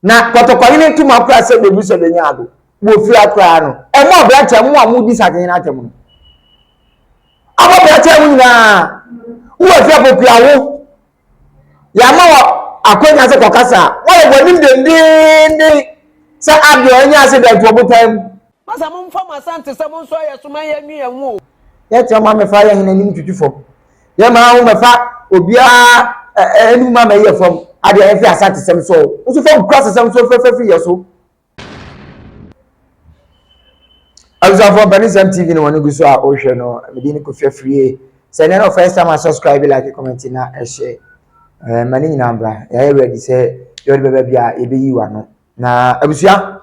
Na Kɔtɔkɔhene ntom akora sɛ bebu sɛ benya ado wɔ fie ha koraa no, ɛmmɔ aberanteɛ mo a modi sahene atam no. Abɔ aberanteɛ ho nyinaa, wowɔ afie a popia wo. Yɛama wɔ akwanya sɛ kɔkasa a, woayɛ w'anim dendenden sɛ adeɛ ɔnyɛ ase dɛn to ɔbotan mu. Masa mo nfa mo asante sɛ mo nso ayɛ so ma yɛn nwi yɛn ho o. Yɛ kyɛ ma me fa yɛ hene anim tutu fam. Yɛ ma wo mɛ fa obiara anim ma mɛ yɛ fam. Ade a yɛ fi asante sɛm so o. Nso fa nkura sesɛm so fɛfɛ firi yɛ so. Abusuafoɔ mpɛ ne sɛm TV no wɔn gu so a wohwɛ no medin ne Kofi Afrie sɛ ɛnɛ no first time a subscribe like comment na ɛhyɛ eh, ma ne nyinaa mbra yɛayɛ ready sɛ yɛde bɛba bi a yɛbɛyi wano na abusua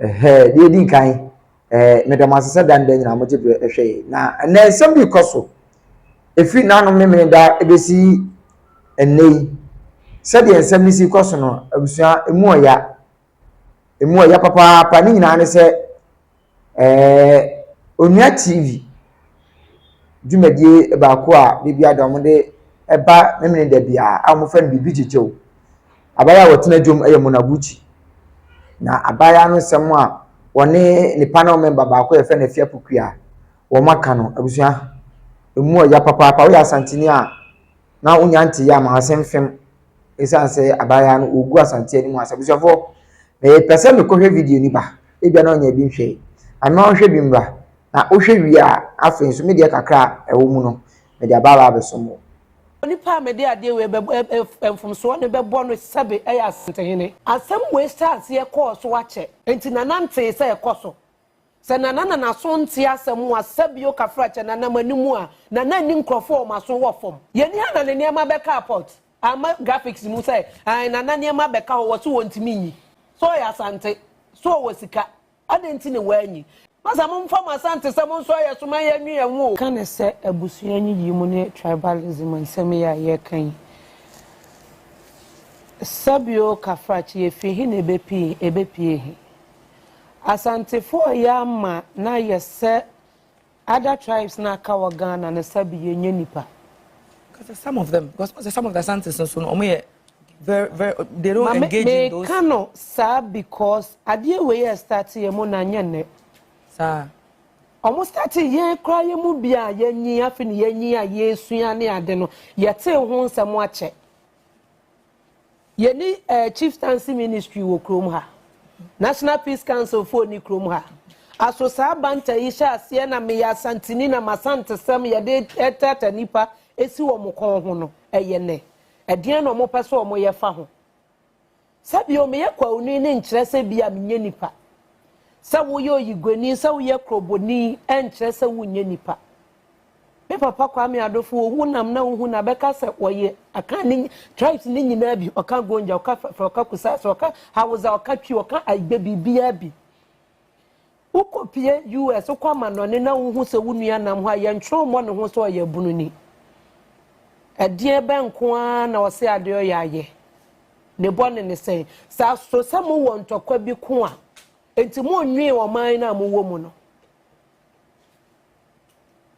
Ɛhɛɛ, deɛ ɛdi nkan, ɛɛ, meda mo ase sɛ da ne da nyinaa mogye berɛ ɛhwɛ yɛn. Na ɛnɛ nsɛm bi rekɔ so, ɛfiri n'anom memene da ɛbɛsi ɛnnɛ yi. Sɛdeɛ nsɛm no si kɔ so no, abusua, ɛmu ɔya. Ɛmu ɔya papaapa. Ne nyinaa ne sɛ, ɛɛ, Onua TV dwumadie baako a da biara da wɔde ɛba memene da biara a wɔfrɛ no Biribi Gyegye Wo. Abaayewa a ɔtena dwom yɛ Monaguchi. Na abaayewa no nsɛm a ɔne ne panel member baako a yɛfrɛ no Afia Pokuya wɔaka no, abusua, emu ɔya papaapa. Woyɛ Asanteni a, na wonya ntee a, ma w'ase mfem. Esiane sɛ abaayewa no ɔregu Asante anim ase. Abusuafoɔ, mepɛ sɛ mekɔhwɛ video no ba. Ebia na ɔnya bi nhwɛe. Ame ma ɔnhwɛ bi mmra. Na wohwɛ wie a, afei nso me deɛ kakra a ɛwɔ mu no, mede aba abɛsom wo. Onipa a mede adeɛ wei bɛbɔ mfomsoɔ no bɛbɔ no sɛbe ɛyɛ Asantehene. Asɛm wei hyɛɛ aseɛ kɔɔ so akyɛ. Enti Nana ntee sɛ ɛkɔ so. Sɛ Nana na n'aso nte asɛm a sɛbio kafra kyɛ Nana m'anim a, Nana nni nkurɔfoɔ a wɔn aso wɔ fam. Yɛnni ha na ne nneɛma bɛka apɔt. Amma graphics mu sɛ, ae Nana nneɛma bɛka hɔ, wɔse wɔntumi nyi. Sɛ ɔyɛ Asante, sɛ ɔwɔ sika, Adɛn nti na wɔanyi? Masa momfa mo asantesɛm nso ayɛ so ma yɛnwe yɛn ho o. Ka ne sɛ abusua nyiyimu ne tribalism nsɛm yi a yɛreka yi. Sɛbe o Kafrakye efi he na ebepie ebepie he? Asantefo a yɛama no ayɛ sɛ Ada tribes na aka wɔ Ghana no sabi yɛ nyɛ nipa. Kasa some of them because ɔsɛ some of the Asantes nso no ɔmo yɛ very very they don't Mame, engage in those. Meka no saa because adeɛ wei yɛ start yɛ mu na nyɛ nnɛ. Saa. Ɔmo start yɛn koraa yɛ mu bi a yɛnyi afi ne yɛnyi a yɛsua ne ade no yɛtee ho nsɛm akyɛ. Yɛni eh, Chieftaincy Ministry wɔ kurom ha. National Peace Council foɔ ni kurom ha. Aso saa banta yi hyɛ aseɛ na meyɛ Asanteni na m'Asantesɛm yɛde ɛtata nipa esi wɔn kɔn ho no ɛyɛ nɛ? Ɛdeɛn na wɔpɛ sɛ wɔn yɛ fa ho? Sɛ bio meyɛ Kwauni no nkyerɛ sɛ bi a menyɛ nipa. Sɛ woyɛ Oyiguani, sɛ woyɛ Kroboni ɛnkyerɛ sɛ wonyɛ nipa. Me papa Kwame Adofo wɔ honam na wohu na bɛka sɛ wɔyɛ Akan ne tribes ne nyinaa bi. Ɔka Gonja, ɔka Fɛfrɛ, ɔka Kusase, ɔka Hausa, ɔka Twi, ɔka Aigbe biribiara bi. Wokɔpie US, wokɔ amanɔne na wohu sɛ wo nua nam hɔ a yɛntwerɛ mmɔ ne ho sɛ ɔyɛ abununi. Ɛdeɛ bɛn nko ara na ɔse adeɛ ɔyɛ ayɛ? Ne bɔ ne ne sɛn? Saa so sɛ mowɔ ntɔkwa bi ko a, enti monnwee ɔman no a mowɔ mu no.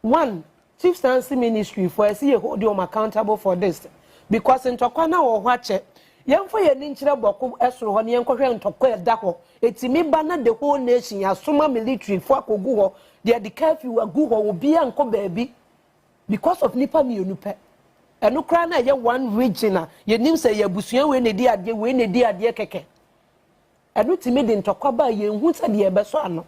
One, Chief Sansi ministry foɔ ɛsi yɛ hold wɔn accountable for this because ntɔkwa na wɔ hɔ akyɛ. Yɛnfa yɛn ani nkyerɛ bɔko ɛsoro hɔ na yɛnkɔhwɛ ntɔkwa ɛda hɔ. Ɛtumi ba na the whole nation yɛasoma military foɔ akɔgu hɔ, yɛde curfew agu hɔ, obiara nkɔ baabi because of nipa mmienu pɛ. Ɛno koraa na ɛyɛ one region a yɛnim sɛ ɛyɛ abusua wei na ɛdi adeɛ wei na ɛdi adeɛ kɛkɛ. Ɛno tumi de ntɔkwa ba a yenhu sɛdeɛ ɛbɛsɔ ano.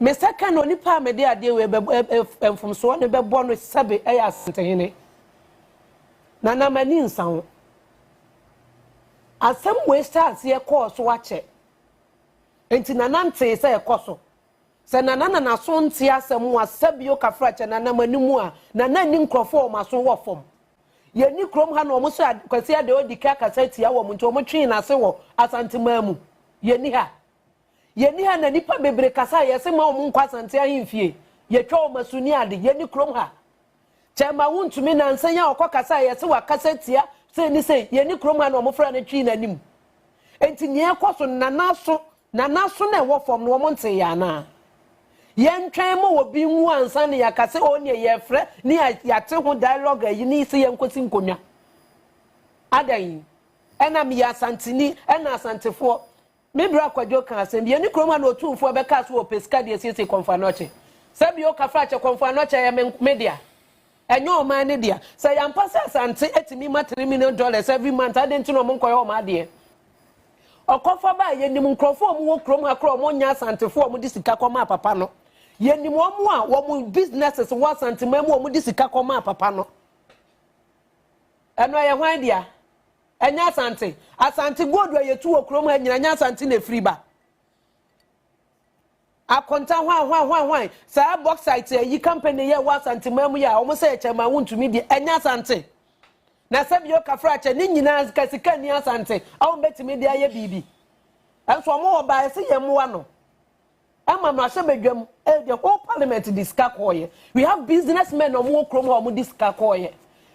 Me nsa ka na onipa a mede adeɛ wei bɛbɔ ɛ ɛ ɛ mfomsoɔ no bɛbɔ no sɛbe ɛyɛ Asantehene. Na na m'ani nsa ho. Asɛm wei hyɛɛ aseɛ kɔɔ so akyɛ. Enti Nana ntee sɛ ɛkɔ so. Sɛ Nana na n'aso nte asɛm a sɛbe ɔka fra kyɛ Nana m'anim a, Nana nni nkurɔfoɔ a wɔn aso wɔ fam. Yɛnni kurom ha na wɔhyɛ Kwasi Adewodike akasa atia wɔn nti wɔtwee n'ase wɔ Asanteman mu. Yɛnni ha. Yɛnni ha na nnipa bebree kasa a yɛse mma wɔn nkɔ Asante ahemfie. Yɛtwa wɔn asu ne ade. Yɛnni kurom ha. Kyɛrema wontumi nansa yi a ɔkɔ kasa a yɛse wakasa atia sei ne sei. Yɛnni kurom ha na wɔfra no twee n'anim. Enti nea ɛkɔ so no Nana so Na n'aso na ɛwɔ fam no wɔn ntee yɛ anaa? Yɛntwɛn ma obi nwu ansa na yɛaka sɛ oo neɛ yɛrefrɛ ne yɛate ho dialogue ayi ne sɛ yɛnkɔsi nkonnwa. Adɛn? Ɛna meyɛ Asanteni, ɛna Asantefoɔ. Me bra Kwadwo kaa asɛm bi, yɛne kurom ha na Otumfoɔ bɛkaa sɛ ɔpɛ sika de asiesie Kɔmfoanokyɛ. Sɛ bio Kafrakyɛ, Kɔmfoanokyɛ yɛ me dea. Ɛnyɛ ɔman no dea. Sɛ ɛyɛ ampa sɛ Asante atumi ma three million dollars every month a, adɛn nti na wɔnkɔyɛ wɔn adeɛ? Ɔkɔfa baa yɛnim nkurɔfo a wɔwɔ kurom ha koraa a wɔnyɛ Asantefo a wɔde sika kɔmaa papa no. Yɛnim wɔn a wɔn businesses wɔ Asanteman mu a wɔde sika kɔmaa papa no. Ɛno ɛyɛ hwan dea? Ɛnyɛ Asante. Asante gold a yɛtu wɔ kurom ha nyina nyɛ Asante na ɛfiri ba. Akonta hwan hwan hwan hwan saa bauxite ayi company yɛ wɔ asante man mu yɛ a wɔn sɛ yɛ kyɛ ma wo ntumi deɛ ɛnyɛ asante na sɛ bio kafra kyɛ ne nyinaa sika sika ni asante a wɔn bɛtumi de ayɛ biribi ɛnso wɔn wɔ baa ɛsɛ yɛn mmoa no ɛma no ahyɛ badwam ɛyɛ the whole parliament de sika kɔɔyɛ we have business men wɔn wɔ kurom hɔ wɔn de sika kɔɔyɛ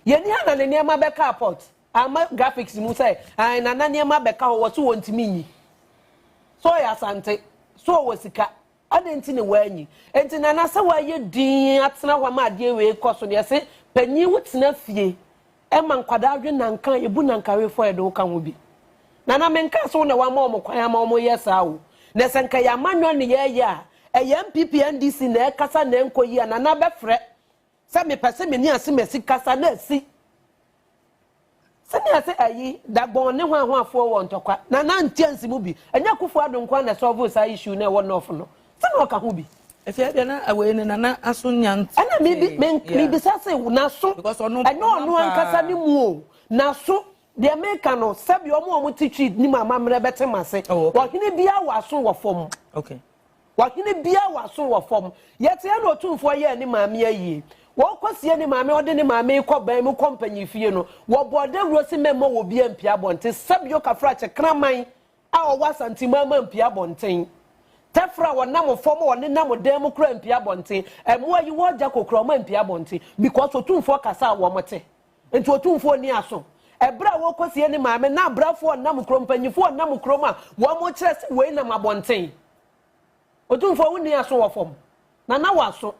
yɛn ni ha na ne nneɛma bɛka apɔt. Ama graphics mu sɛ ae nana nneɛma bɛka hɔ wɔ so wɔ ntumi nyi so ɔyɛ asante so ɔwɔ sika adɛn nti ne wɔanyi nti nana sɛ wɔayɛ din atena hɔ ama adeɛ wei kɔ so deɛ se panyin wo tena fie ɛma nkwadaa dwe nanka yɛbu nanka wefɔ yɛde wo ka ho bi nana menka so na wama wɔn kwan ama wɔn yɛ saa o na sɛ nka yɛ amanyɔ ne yɛyɛ a ɛyɛ npp ndc na ɛkasa na ɛnkɔ yi a nana bɛfrɛ sɛ mepɛ sɛ meni ase masi kasa na asi sɛnea sɛ ayi dagbɔn ne hwanhwafoɔ wɔ ntɔkwa na na ntia nsi mu bi ɛnyɛ akufo ado nko a na ɛsɔɔvo saa issue na ɛwɔ nɔɔfo no sɛ na ɔka ho bi ɛfɛ ɛdeɛ na awei no nana aso nya nti ɛna mebisa se naso ɛnyɛ ɔno ankasa ne mu o naso deɛ meka no sɛbi ɔmo ɔmo te twi nim amammerɛ bɛte mase ɔhene bia wɔ aso wɔ fam Ɔhene biara wɔ aso wɔ fam. Yɛteɛ na Otumfoɔ yɛɛ ne maame ayie. Wɔrekɔsie ne maame a ɔde ne maame rekɔ ban mu kɔ mpanyinfie no, wɔbɔɔ dawuro se mɛmma obiara mpue abɔnten. Sabio Kafrakye kraman a ɔwɔ Asanteman mma mpue abɔnten. Tɛfra a ɔnam fam a ɔnenam dan mu koraa mpue abɔnten. Mmoa a yi wɔn gya kokoraa, wɔampue abɔnten because Otumfoɔ kasa a wɔte. Enti Otumfoɔ nni aso. Ɛberɛ a wɔrekɔsie ne maame na abrɛfoɔ nnam kurom, mpanimfoɔ nnam kurom a, wɔkyerɛ sɛ wei nam abɔnten. Otumfoɔ wonni aso wɔ fam. Na na w'aso.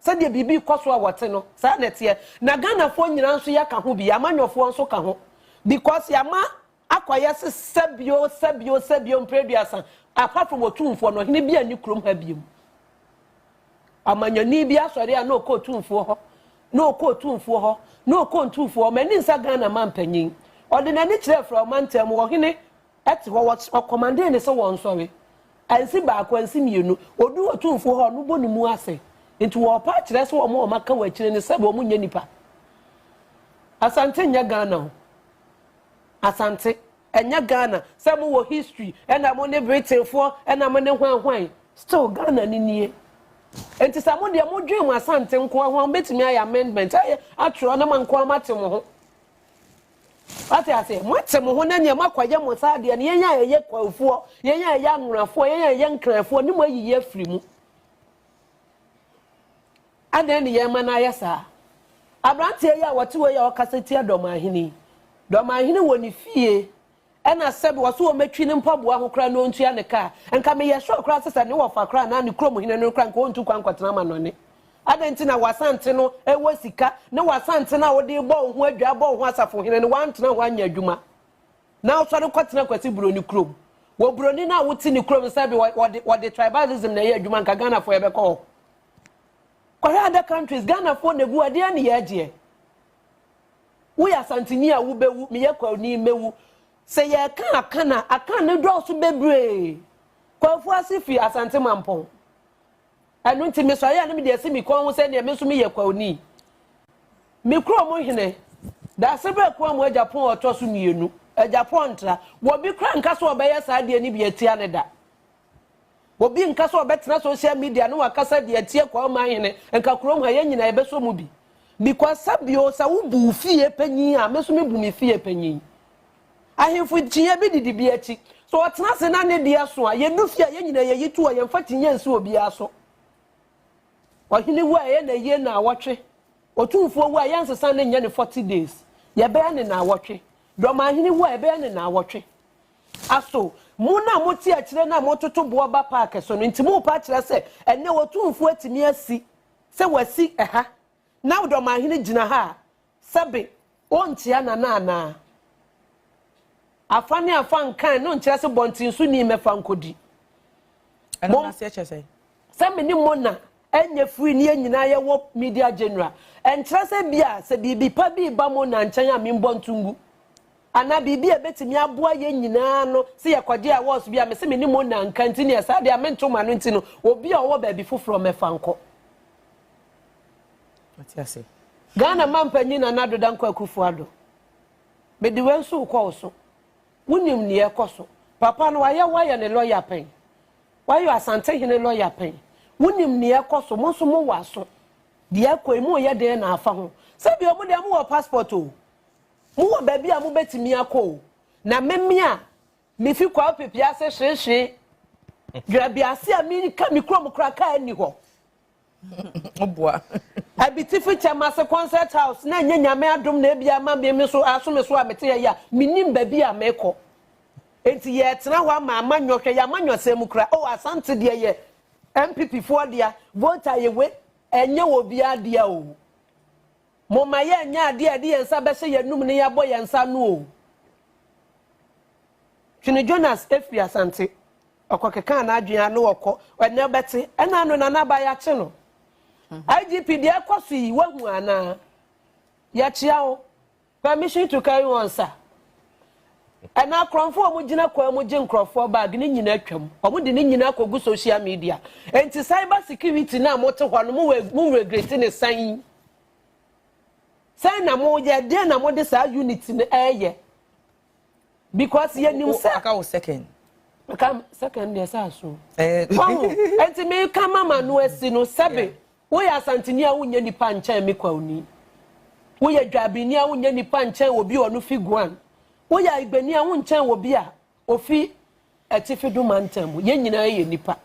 Sɛdeɛ biribi rekɔ so a wɔte no, saa na ɛteɛ. Na Ghanafoɔ nyinaa nso yɛka ho bi, amanyɔfoɔ nso ka ho because yɛama Akɔyɛ se sɛ bio, sɛ bio, sɛ bio mpre aduasa, apart from Otumfoɔ no, ɔhene bia nni kurom ha biom. Ɔmanyɔni bi asɔre a na ɔkɔ Otumfoɔ hɔ, na ɔkɔ Otumfoɔ hɔ, na ɔkɔ Ntumfoɔ hɔ, mani nsa Ghana mampanyin. Ɔde n'ani kyerɛ frɛ ɔmantam mu, ɔhene te hɔ, ɔkɔmande ne se wɔnsɔre. Ansi baako, ansi mienu. Ɔdu Otumfoɔ hɔ a, ɔno bɔ ne mu ase. Nti wɔpa akyerɛ se wɔn a wɔaka wɔ akyire no sɛ wɔn nyɛ nipa. Asante nyɛ Ghana o. Asante, ɛnyɛ Ghana, sɛ mo wɔ history ɛna mo ne Britain foɔ ɛna mo ne hwan hwan, still Ghana no nie. Nti sɛ mo deɛ mo dwen mo Asante nkoa ho a, mo bɛtumi ayɛ amendment ayɛ atwerɛ na mo nkoa mo ate mo ho. Wate aseɛ, mo ate mo ho na neɛ mo akɔ ayɛ mo saa deɛ no, yɛn a ɛyɛ Kwafoɔ, yɛn a ɛyɛ Anworafoɔ, yɛn a ɛyɛ Nkranfoɔ ne mo ayiyi afiri mu. Adɛn ne yɛn ma no ayɛ saa? Aberanteɛ yi a wɔte hɔ yi a ɔkasa tia Dɔmahene yi, Dɔmahene wɔ ne fie ɛna sɛbe ɔse wɔmɛtwi ne mpaboa ho koraa na ɔntua ne kaa. Nka meyɛ sure koraa sɛ sɛ ne wɔfa koraa anaa ne kurom hene no koraa nka ɔntu kwan nkɔtena amanɔne. Adɛn nti na w'Asante no wɔ sika ne w'Asante no a wode rebɔ wo ho adwaa rebɔ wo ho asafohene no woantena ho anyɛ adwuma na wosɔre kɔtena Kwasi Buroni kurom? Wɔ Buroni no a wote ne kurom no sɛbe wɔde wɔde tribalism na ɛyɛ adwuma nka Ghanafoɔ yɛbɛkɔ hɔ. Kɔhwɛ other countries, Ghanafoɔ na gu hɔ, ɛdeɛn ne yɛ gyeɛ? Woyɛ Asanteni a wobɛwu, meyɛ Kwauni mɛwu. Sɛ yɛreka Akan a, Akan no dɔɔso bebree. Kwafu ase firi Asante Mampɔn. Ɛno nti mesɔre a na mede asi me kɔn ho sɛ neɛ me nso meyɛ Kwauni. Me kuro mo hene, Daasebrɛ Kuamu Agyapong a ɔtɔ so mmienu, Agyapong Ntra, wɔbi koraa nka sɛ ɔbɛyɛ saa adeɛ no bi atia no da. Obi nka sɛ ɔbɛtena social media ne wakasa de atie kwa ɔman hene nka kurom ha yɛn nyinaa yɛbɛsɔ mu bi because sɛ bio sɛ wo bu wo fie panyin a me nso me bu me fie panyin ahemfo kyinyɛ bi didi bi akyi so ɔtena se na ne deɛ so a yɛdu fie a yɛn nyinaa yɛyi to a yɛmfa kyinyɛ nsi obiara so ɔhene wu a ɛyɛ na yie na awɔtwe otumfoɔ wu a yɛn nsesa ne nyɛ ne 40 days yɛbɛyɛ ne na awɔtwe dɔmahene wu a ɛbɛyɛ ne na awɔtwe Aso mo na mote akyire no a mototo boɔ ba park so no nti morepa akyerɛ sɛ ɛnnɛ Otumfoɔ atumi asi sɛ wasi ɛha na Ɔdɔmahene gyina ha a sɛbe ɔnkyia Nana anaa? Afa ne afa nkan no nkyerɛ se bɔntensoni mmɛfa nkɔdi. Ɛno no aseɛ kyerɛ sɛn? Sɛ me ne mo na ɛnyɛ free ne yɛn nyinaa yɛwɔ media general ɛnkyerɛ sɛ bia sɛ biribi pa bi reba mo na nkyɛn a menbɔ nto ngu. Anaa biribi a ɛbɛtumi aboa yɛn nyinaa no, sɛ yɛkɔgye awards bi a, mese me ne mo nna nka nti neɛ saa deɛ a mento m'ano nti no, obi a ɔwɔ baabi foforɔ mɛfa nkɔ. Wate ase? Ghana Mampanyin Nana Addo Dankwa Akufo Addo, mede wei nso rekɔ wo so. Wonim nea ɛrekɔ so. Papa no wayɛ wo ayɛ ne lɔya pɛn? Wayɛ Asantehene lɔya pɛn? Wonim nea ɛrekɔ so, mo nso mowɔ aso. Deɛ ɛrekɔ yi, moreyɛ dɛn na afa ho? Sɛdeɛ wɔn deɛ mowɔ passport o, Mowɔ baabi a mobɛtumi akɔ o. Na meme a mefi Kwawo Pepia ase hwehwee Dwerabiase a meka me kurom koraa kaa nni hɔ. Boa. Abitifi kyɛm ase concert house na ɛnyɛ Nyame adom na ebia ama me me so aso me so a mete ha yi a mennim baabi a mekɔ. Enti yɛtena hɔ ama amanyɔ hwɛ y'amanyɔ sɛn mu koraa oh Asante deɛ yɛ NPP foɔ dea, Volta yɛ wei ɛnyɛ obiara dea o. Momma yɛnnyɛ adeɛ a yɛde yɛn nsa bɛhyɛ yɛn anom na yɛabɔ yɛn nsa ano o. Twene Jonas firi Asante. Ɔkɔkekaa n'adwene a na ɔkɔ. Ɛnnɛ wobɛte. Ɛna ano Nana Aba yɛakye no. IGP deɛ ɛkɔ so yi woahu anaa? Yɛkyea wo. Permission to carry on sir. Ɛna akorɔnfo a wɔgyina kwan mu gye nkorɔfoɔ bag no nyinaa twam. Wɔde ne nyinaa kɔgu social media. Enti cyber security no a mote hɔ no mo wɔ mo regreti ne sɛn? Sɛn na moyɛ? Deɛ na mode saa unit no ɛyɛ? Because yɛnim sɛ. Aka wo second. Aka second deɛ sɛ aso. Wahu. Enti meka mama no asi no sɛbe. Woyɛ Asanteni a wonyɛ nipa nkyɛn me Kwauni. Woyɛ Dwaabini a wonyɛ nipa nkyɛn obi a ɔno fi Guan. Woyɛ Aigbeni a wonkyɛn obi a ofi Atifi du mantam mu. Yɛn nyinaa yɛ nipa.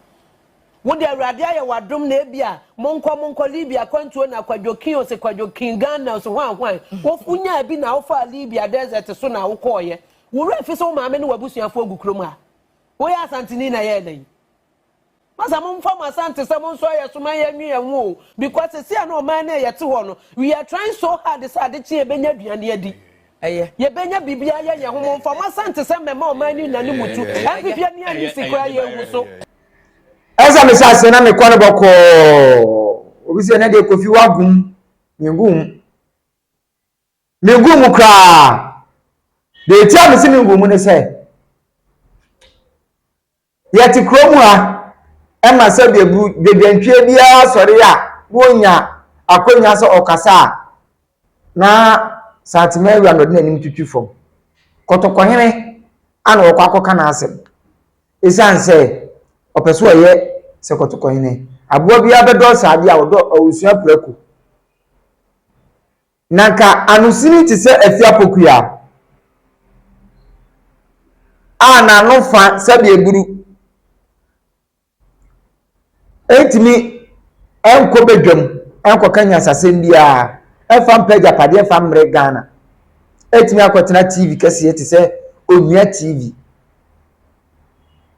Wo de Awurade ayɛ w'adom na ebi a monkɔ monkɔ Libya akwantuo na Kwadwo King ose Kwadwo King Ghana ose hwan hwan. Wo wonyaa bi na wo faa Libya desert so na wo kɔɔeɛ. Wo werɛ fi sɛ wo maame ne w'abusuafoɔ gu kurom ha. Woyɛ Asanteni na yɛɛ dɛn? Ma sɛ mo nfa mo asantesɛm nso ayɛ so ma yɛn nwe yɛn ho o because sɛsi a na ɔman no a yɛte hɔ no we are trying so hard sɛ ade kye yɛbɛnya aduane adi ɛyɛ yɛbɛnya biribi ayɛ yɛn ho mo nfa mo asantesɛm mmɛma ɔman no nna ne mu tu npp ani anyi si koraa yɛn hu so. Ɛsɛ me sɛ aseɛ na mekɔ no bɔkɔɔ obi sɛ ɛnɛ deɛ kofi wagum mengu mu mengu mu koraa deɛ ɛtia me se mengu mu ne sɛ Yɛte kurom ha, ɛma sɛdeɛ dwadwantwie biara sɔre a na ɔnya akwannya sɛ ɔkasa a, na Saatemaawura na ɔde n'anim twitwi fam. Kɔtɔkɔhene a na wɔkɔ akɔka n'asɛm. Ɛsiane sɛ ɔpɛ sɛ ɔyɛ sɛ Kɔtɔkɔhene. Aboa biara bɛdɔ saa adeɛ a ɔdɔ, ɔresua prako. Na anka anosini te sɛ afi apokua a n'ano fã sɛdeɛ aburu ntumi nkɔ badwam nkɔka nyansasɛm biara mfa mpɛ agyapadeɛ mfa mmrɛ Ghana atumi akɔtena TV kɛseɛ te sɛ Onua TV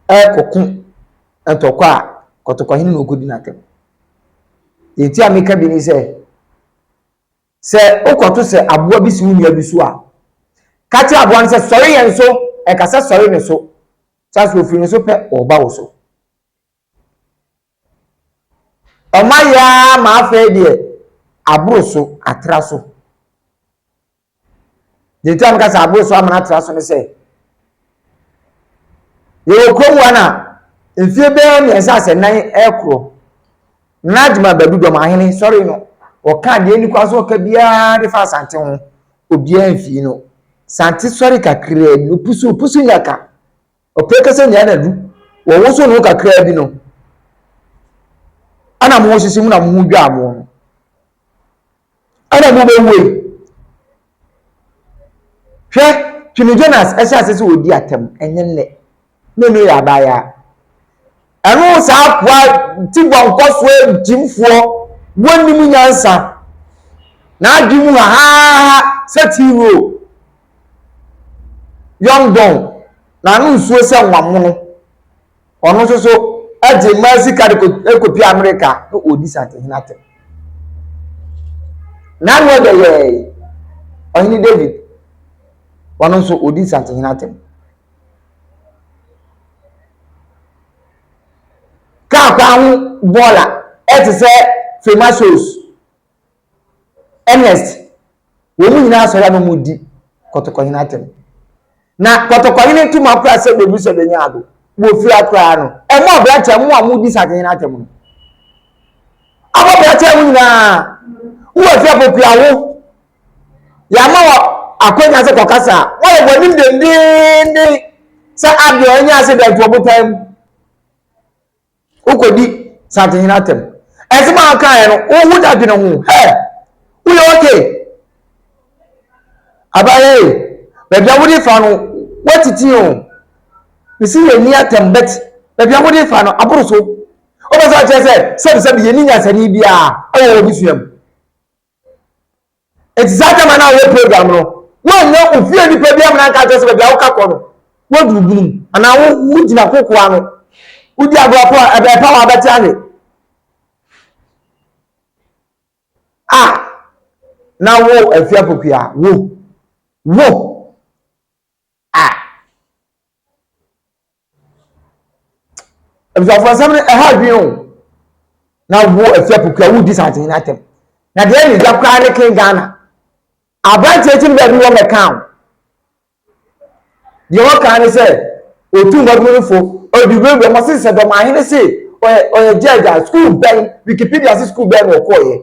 ɛrekɔko ntɔkwa a kɔtɔkɔhene na ɔkɔdi no atɛm. Deɛ nti a meka bi ne sɛ Sɛ wokɔto sɛ aboa bi si wo nua bi so a, ka kyerɛ aboa no sɛ, Sɔre yɛn so! Ɛka sɛ, Sɔre ne so! Kyerɛ sɛ ofiri ne so pɛ reba wo so. Ɔma yɛ ara ma afei deɛ aboro so, atra so. Deɛ nti a meka sɛ aboro so amena atra so ne sɛ yɛwɔ kurom wa no a mfie bɛyɛ mmiɛnsa asɛ nan ɛkorɔ na adwuma baabi dɔm ahene sɔre no ɔka deɛ ani kwa so ɔka biara de fa asante ho obiara mfii no sante sɔre kakraa bi opusu opusu nyaka Ɔpɛ kɛ sɛ nea na du wɔwoso no kakraa bi no ana mo sisi mu na mo ho dwaa mo no ana mo bɛ wei hwɛ twene jonas ɛhyɛ ase sɛ ɔdi atɛm ɛnyɛ nnɛ na ɛno yɛ abaayaa Ɛno saa akoa ti bɔnkɔfoɔ agyimfoɔ wɔnnim nyansa n'adwene mu hahaha sɛ tea roll yɔndɔn n'ano nsuo sɛ nwamono ɔno nso so agye mmaa sika de kɔpie Amerika na ɔdi santehene atɛm n'ano ɛdɛ yɛɛ ɔhene David ɔno nso ɔdi santehene atɛm Kaa kwan ho bɔɔla te sɛ Fremasoz, Ernest, wɔn nyinaa sɔre ano mu di Kɔtɔkɔhene atɛm. Na Kɔtɔkɔhene tum akora sɛ bebu sɛ benya ado wɔ fie ha koraa no, ɛma ɔbrakyɛ mo a mudi Sakehene atɛm no abɔ brakyɛ ho nyinaa. Wowɔ fie a, pokuawo yɛama wɔ akwanya sɛ kɔkasa a wɔyɛ wɔnim dendenden sɛ adeɛ a ɛnyɛ ase da nti wɔbotan mu wokɔdi santehene atɛm ɛsɛm a wokaeɛ no wohu da dwene ho hɛ woyɛ okay abayɛ baabi a wode fa no woatiti o mesi yɛ ni atɛm bɛt baabi a wode fa no aboro so wobɛ sɛ ɔkyerɛ sɛ sɛbisɛbi yɛni nyasani biara ɛwɔ wɔ bi suam Enti saa gyama no a wɔyɛ program no, woannya ofie nipa bi amena nka nkyerɛ sɛ baabi a woka kɔ no, woadu obunu mu, anaa wo wogyina koko ano, wodi agorɔ po a ɛbɛn pa a wabɛte anwe. A na wo afie apokuya wo, wo. Abusuafo asɛm no ɛha adwene o. Na wo ɛfi apukua wo di santen na atɛm. Na deɛ ɛyɛ gya koraa ne ken Ghana. Abranteɛ ti no baabi wɔ mɛka o. Deɛ wɔka ne sɛ otu mmɔdum no fo ɔdi wura wura mo se sɛ dɔm ahene se ɔyɛ ɔyɛ gya gya sukuu bɛn Wikipedia se sukuu bɛn na ɔkɔɔyɛ.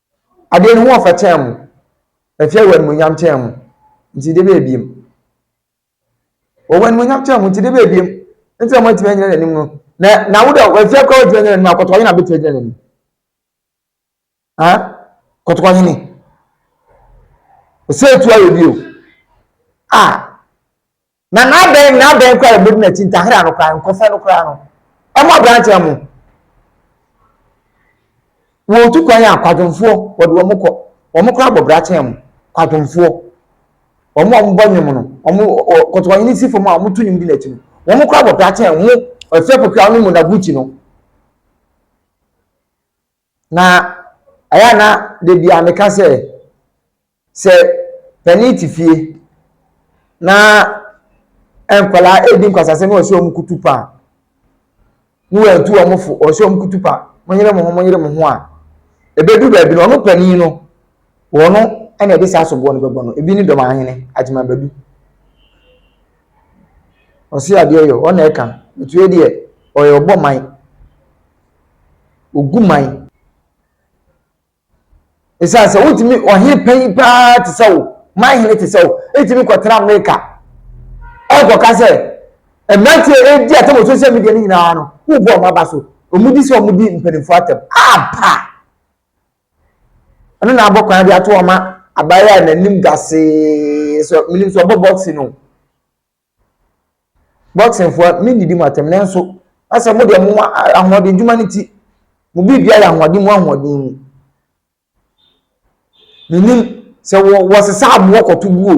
Adeɛ ne ho ɔfɛ tɛn mo. Ɛfia wɔ animuonyam tɛn mo, nti de bɛyɛ biem. Ɔwɔ animuonyam tɛn mo, nti de bɛyɛ biem. Nti na moatumi anyina n'anim no. Na na wo dɛ wafia koraa watumi anyina n'anim a, kɔtɔkɔ hene na bɛtumi agyina n'anim? Ha? Kɔtɔkɔ hene. Ɔsɛ etu ayɛ bio. Ah! Na n'adɛn n'adɛn koraa a yɛbɛdi no akyi, ntahera no koraa, nkɔfɛ no koraa no, ɛmɔ aberanteɛ mo. Wɔtu kwan a, kwadwomfoɔ, wɔde wɔn kɔ. Wɔn koraa bɔ brakyɛn mo, kwadwomfoɔ. Wɔn a wɔbɔ nnwom no, wɔn kɔtɔkɔhene si fam a wɔto nnwom di n'akyi no, wɔn koraa bɔ brakyɛn mo, ɔfɛ pokuwa no mu na Gucci no. Na ɛyɛ a na da biara meka sɛ, sɛ panin te fie na nkwadaa redi nkwasasɛm na ɔsɛ wɔn kutu pa a, na wɔatu wɔn fo, ɔsɛ wɔn kutu pa, monyere mo ho, monyere mo ho a, ɛbɛdu baabi no, ɔno panin no, wɔn no na ɛde saa soboɔ no bɛbɔ no. Ebi ne dɔm ahene, Agyeman Badu. Ɔse adeɛ yɔ, ɔna ɛka. Ɛtuo deɛ, ɔyɛ ɔbɔ man. Wɔgu man. Ɛsiane sɛ wotumi ɔhene panyin paa te sɛ wo, man hene te sɛ wo, etumi kɔtena Amerika. Ɛkɔka sɛ mmeranteɛ a ɛredi atɛm wɔ social media no nyinaa no, wobɔ wɔn aba so. Wɔdi sɛ wɔdi mpanimfoɔ atɛm. Apa! Ɛno na abɔ kwan de ato wɔn ma abayewa a n'anim gasee sɛ menim sɛ ɔbɔ boxing no. Boxing foɔ mendidi mo atɛm nanso asɛ mo deɛ mo ahoɔden dwuma no ti mo biribia yɛ ahoɔden mu ahoɔden mu menim sɛ wɔ wɔsesa aboɔ kɔto buo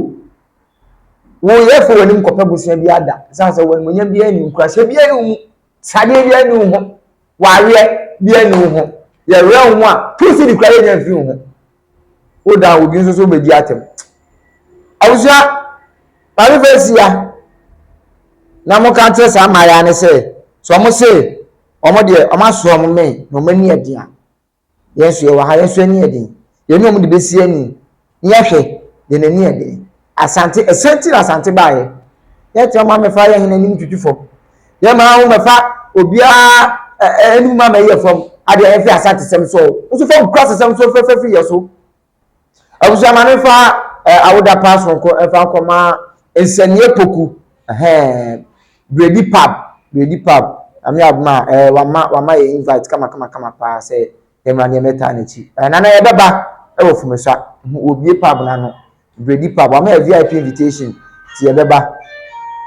woyɛ fo w'anim kɔpɛ bosea bi ada ɛsiane sɛ wɔn monyam biara ni nkuraseɛ biara ni wo mu Saa deɛ deɛ ne wo ho. Wareɛ deɛ ne wo ho. Yɛwerɛ wo ho a, two cedi koraa yɛnya mfiri wo ho. Wo da obi nso so bɛdi atɛm. Abusua, maame fɛ asia na mo ka kyerɛ saa mmaayaa ne sɛ, sɛ wɔn se wɔn deɛ wɔn aso wɔn mmɛn na wɔn ani ɛden a, Yɛn nso yɛwɔ ha, yɛn nso ani yɛ den. Yɛne wɔn de bɛsi ani na yɛahwɛ, yɛn ani yɛ den. Asante, ɛsɛn nti na Asante baeɛ? Yɛtumi ama mmɛfa yɛn hene anim tutu fam. Yɛma wo mmɛfa obiara anim ama ɛyɛ fam. Adeɛ yɛn fi Asantesɛm so, wo nso fa wo kura sesɛm so fɛfɛ firi yɛn so. Abusua ma ne fa ɛ awoda paa sonko ɛfa nkɔ ma nsɛnniɛ poku ɛhɛn bredi pub bredi pub ame aboma ɛ wama wama yɛ invite kama kama kama paa sɛ yɛmra ne yɛmɛ taa n'akyi ɛ nana yɛbɛba ɛwɔ fumesa wɔ bie pub n'ano bredi pub wama yɛ vip invitation ti yɛbɛba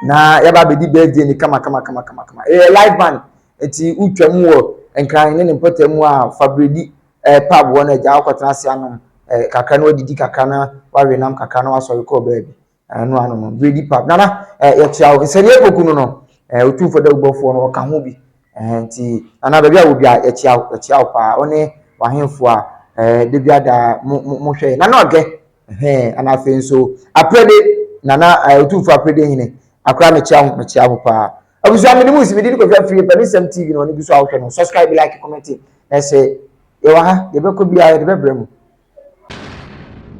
na yɛba abɛdi birthday ni kama kama kama kama kama ɛyɛ live band nti wotwa mu wɔ nkran ne ne mpɔtam a fa bredi ɛɛ, pub hɔ no agya akɔtena ase anom ɛɛ kakra na wadidi kakra na wawe nam kakra na wasɔre kɔɔ baabi. Ɛno ano no, biredi pub. Nana, ɛɛ yɛkyia wo. Nsɛnniiɛ Poku no no, ɛɛ Otumfoɔ Dawubɔfoɔ no ɔka ho bi. Ɛɛ nti Nana baabi a wɔ biara yɛkyia wo, yɛkyia wo paa. Wo ne w'ahemfo a ɛɛ da biara da mo mo mohwɛ yɛn. Nana Ɔgɛ, ɛhɛn, ɛna afei nso Aprede, Nana ɛɛ Otumfoɔ Aprede Hene, akora mekyia wo, mekyia wo paa. Abusua me ne mu si me di ne kɔhwɛ afie pɛ ne sɛm TV na ɔne gu so a wohwɛ no subscribe like comment na ɛsɛ yɛwɔ ha deɛ bɛkɔ biara yɛde bɛbrɛ mu.